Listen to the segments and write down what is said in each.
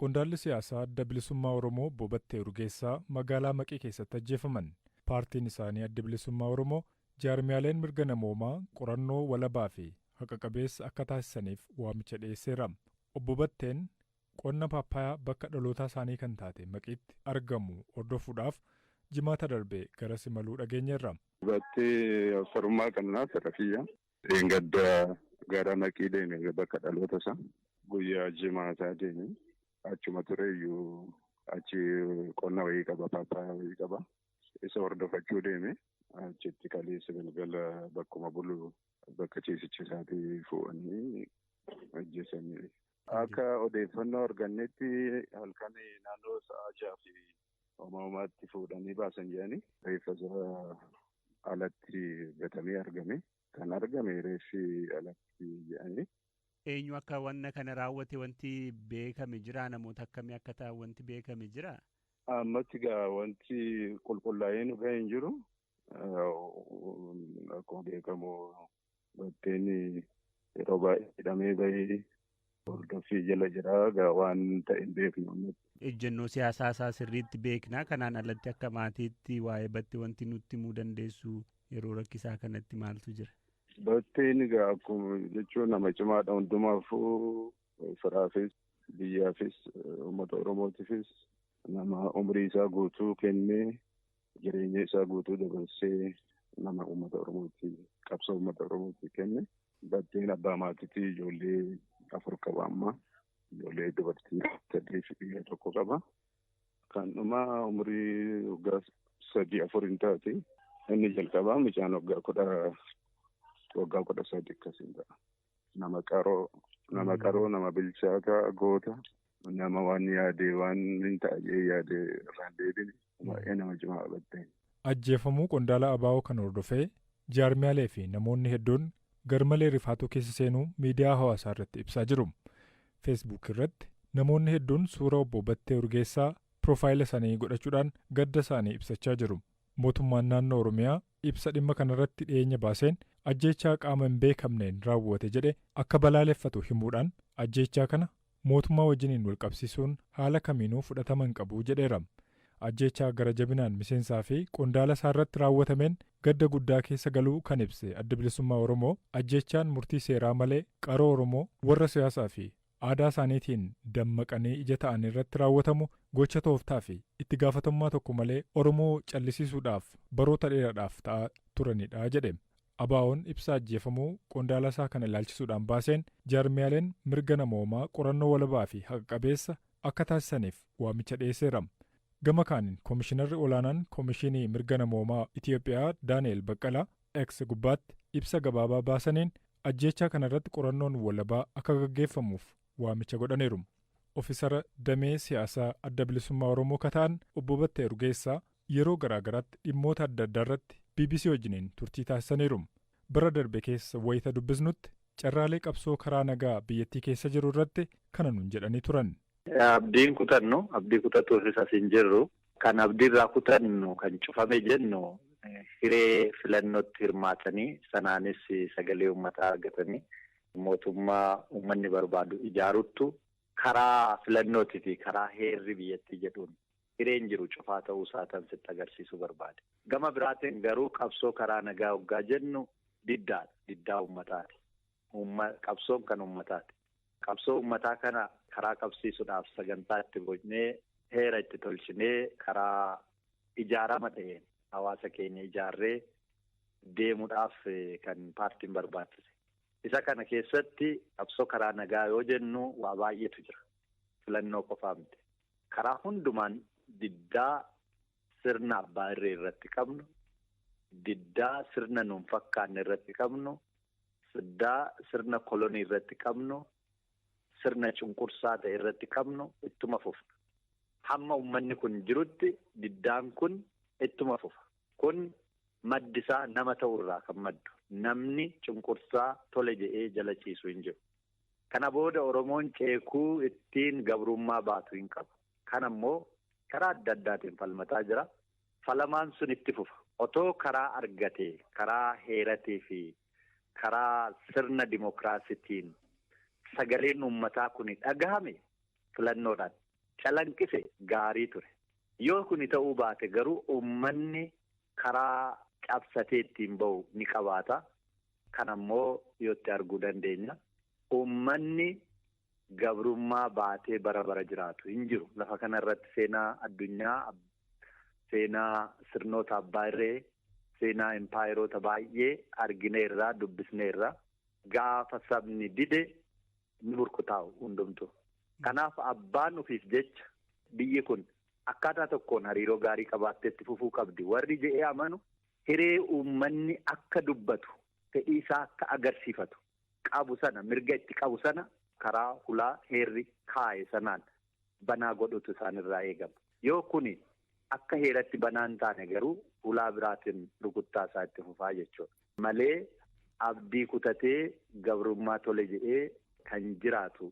Qondaalli siyaasaa Adda Bilisummaa Oromoo Obbo Battee Urgeessaa magaalaa Maqii keessatti ajjeefaman. Paartiin isaanii Addi Bilisummaa Oromoo jaarmiyaaleen mirga namoomaa qorannoo walabaa fi haqa qabeessa akka taasisaniif waamicha dhiyeesseera. Obbo Batteen qonna paappaayaa bakka dhalootaa isaanii kan taate Maqiitti argamu hordofuudhaaf Jimaata darbe garas imaluu dhageenyeerra. Battee Obsa Rummaa Qannaa Sarafiyyaa. Dheengadda gara Maqii deeme bakka dhaloota isaa. Guyyaa Jimaataa deeme. Achuma tureyyuu achi qonna wayii qaba paappaayaa wayii qaba. Isa hordofachuu deeme. Achitti kaleessa galgala bakkuma bulu bakka ciisicha isaatii fuudhanii ajjeesanii. Akka odeeffannoo argannetti halkan naannoo sa'a jaha fi Homaa homaatti fuudhanii baasan jedhanii reeffa isaa alatti gatamee argame. Kan argame reeffi alatti jedhanii. Eenyu akka wanna kana raawwate wanti beekame jiraa? Namoota akkamii akka ta'an wanti beekame jiraa? Ammatti egaa wanti qulqullaa'ee nu ga'e hin jiru. Akkuma beekamu batteen yeroo baay'ee hidhamee bahee hordoffii jala jira. Egaa waan ta'e hin beeknu ammatti. Ejjennoo siyaasaa isaa sirriitti beekna. Kanaan alatti akka maatiitti waa'ee battee wanti nutti himuu dandeessu yeroo rakkisaa kanatti maaltu jira? Batteen egaa akkuma jechuun nama cimaadha hundumaafuu firaafis biyyaafis uummata Oromootiifis nama umrii isaa guutuu kennee Jireenya isaa guutuu dabarsee nama uummata Oromootti qabsoo uummata Oromootti kenne. Batteen abbaa maatiitii ijoollee afur qaba amma. Ijoollee dubartii sadii fi dhiira tokko qaba. Kan dhumaa umurii waggaa sadii afur hin taate. Inni jalqabaa mucaan waggaa kudha waggaa kudha sadii akkasiin ta'a. Nama qaroo nama qaroo nama bilchaataa goota. Nama waan yaade waan hin taa'ee yaade irraan deebine baay'ee nama cimaa qabatte. Ajjeefamuu qondaala ABO kana hordofee jaarmiyaalee fi namoonni hedduun garmalee rifaatuu keessa seenuu miidiyaa hawaasaa irratti ibsaa jiru. Facebook irratti namoonni hedduun suura obbo Battee Urgeessaa piroofaayila isaanii godhachuudhaan gadda isaanii ibsachaa jiru. Mootummaan naannoo Oromiyaa ibsa dhimma kanarratti dhiyeenya baaseen ajjeechaa qaama hin beekamneen raawwate jedhe akka balaaleffatu himuudhaan ajjeechaa kana mootummaa wajjiniin wal qabsiisuun haala kamiinuu fudhatama hin qabu jedheera. Ajjeechaa gara jabinaan miseensaa fi qondaala isaa irratti raawwatameen gadda guddaa keessa galuu kan ibse Addi Bilisummaa Oromoo, ajjeechaan murtii seeraa malee qaroo Oromoo warra siyaasaa fi aadaa isaaniitiin dammaqanii ija ta'an irratti raawwatamu gocha tooftaa fi itti gaafatamummaa tokko malee Oromoo callisiisuudhaaf baroota dheeraadhaaf ta'aa turanidha jedhe. ABOn ibsa ajjeefamuu qondaalasaa kana ilaalchisuudhaan baaseen, jaarmiyaaleen mirga namoomaa qorannoo walabaafi haqa qabeessa akka taasisaniif waamicha dhiyeesseera. Gama kaaniin Komishinarri Olaanaan Komishiinii Mirga Namoomaa Itiyoophiyaa Daani'eel Baqqalaa X gubbaatti ibsa gabaabaa baasaniin, ajjeechaa kanarratti qorannoon walabaa akka gaggeeffamuuf waamicha godhaniiru. Ofisara damee siyaasaa Adda Bilisummaa Oromoo ka ta'an Obbo Battee Urgeessaa yeroo garaa garaatti dhimmoota adda addaa irratti bbc wajjiniin turtii taasisaniiru. Bara darbe keessa wayita dubbisnutti carraalee qabsoo karaa nagaa biyyattii keessa jiru irratti kana nuun jedhanii turan. Abdii hin kutannu, abdii kutatuufis as hin jirru. Kan abdii irraa kutannu, kan cufame jennu hiree filannootti hirmaatanii sanaanis sagalee uummataa argatanii mootummaa uummanni barbaadu ijaaruttu karaa filannootii fi karaa heerri biyyattii jedhuun hireen jiru cufaa ta'uu isaatan sitti agarsiisuu barbaade. Gama biraatiin garuu qabsoo karaa nagaa hoggaa jennu diddaadha. Diddaa uummataati. Qabsoon kan uummataati. Qabsoo uummataa kana karaa qabsiisudhaaf sagantaa itti bocnee heera itti tolchinee karaa ijaarama ta'een hawaasa keenya ijaarree deemudhaaf kan paartiin barbaachise. Isa kana keessatti qabsoo karaa nagaa yoo jennu waa baay'eetu jira. Filannoo qofaa miti. Karaa hundumaan diddaa sirna abbaa irree irratti qabnu, diddaa sirna nuun fakkaanne irratti qabnu, diddaa sirna kolonii irratti qabnu, sirna cunqursaa ta'e irratti qabnu ittuma fufna. Hamma ummanni kun jirutti diddaan kun ittuma fufa. Kun maddi isaa nama ta'uu irraa kan maddu. Namni cunqursaa tole jedhee jala ciisu hin jiru. Kana booda Oromoon ceekuu ittiin gabrummaa baatu hin qabu. Kana immoo karaa adda addaatiin falmataa jira. Falamaan sun itti fufa. Otoo karaa argate karaa heeratii fi karaa sirna dimokiraasitiin sagaleen uummataa kuni dhagahame filannoodhaan calanqise gaarii ture. Yoo kuni ta'uu baate garuu uummanni karaa cabsatee ittiin bahu ni qabaata. Kan ammoo dhiyootti arguu dandeenya. Uummanni gabrummaa baatee bara bara jiraatu hin jiru. Lafa kana irratti seenaa addunyaa, seenaa sirnoota abbaa irree, seenaa impaayeroota baay'ee argineerra, dubbisneerra. Gaafa sabni dide ni burkutaa'u hundumtu. Kanaaf abbaan ofiif jecha biyyi kun akkaataa tokkoon hariiroo gaarii qabaattee itti fufuu qabdi warri jedhee amanu hiree uummanni akka dubbatu, fedhii isaa akka agarsiifatu qabu sana, mirga itti qabu sana karaa hulaa heerri kaaye sanaan banaa godhuutu isaan irraa eegama. Yoo kuni akka heeratti banaa hin taane garuu hulaa biraatiin rukuttaa isaa itti fufaa jechuudha. Malee abdii kutatee gabrummaa tole jedhee kan jiraatu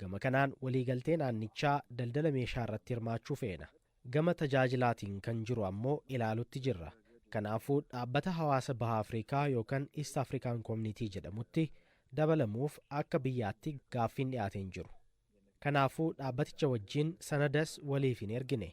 Gama kanaan waliigaltee naannichaa daldala meeshaa irratti hirmaachuu feena. Gama tajaajilaatiin kan jiru ammoo ilaalutti jirra. Kanaafuu dhaabbata hawaasa Baha Afrikaa yookan East African Community jedhamutti dabalamuuf akka biyyaatti gaaffiin dhiyaate hin jiru. Kanaafuu dhaabbaticha wajjin sanadas waliif hin ergine.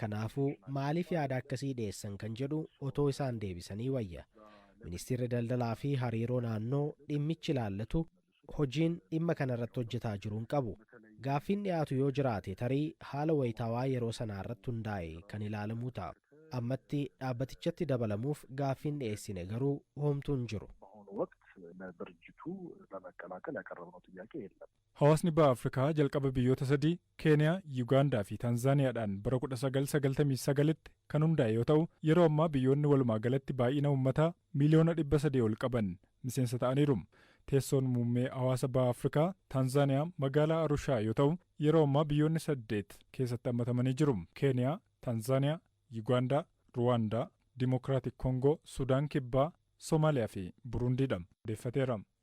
Kanaafuu, maaliif yaada akkasii dhiyeessan kan jedhu otoo isaan deebisanii wayya. Ministeerri Daldalaa fi Hariiroo Naannoo dhimmichi ilaallatu hojiin dhimma kana irratti hojjetaa jiru hin qabu. Gaaffiin dhiyaatu yoo jiraate tarii haala wayitaawaa yeroo sanaa irratti hundaa'e kan ilaalamuu ta'a. Ammatti dhaabbatichatti dabalamuuf gaaffiin dhiyeessine garuu homtuu hin jiru. Hawaasni Baha Afrikaa jalqaba biyyoota sadii Keeniyaa, Yugaandaa fi Tanzaaniyaadhaan bara 1999tti kan hundaa'e yoo ta'u, yeroo ammaa biyyoonni walumaa galatti baay'ina uummataa miiliyoona 300 ol qaban miseensa ta'aniiru. Teessoon muummee hawaasa Baha Afrikaa, Tanzaaniyaa, magaalaa Arushaa yoo ta'u, yeroo ammaa biyyoonni saddeet keessatti hammatamanii jiru, Keeniyaa, Tanzaaniyaa, Yugaandaa, Ruwaandaa, Dimokiraatik Kongoo, Sudaan Kibbaa, Somaaliyaa fi Burundiidha. odeeffateera.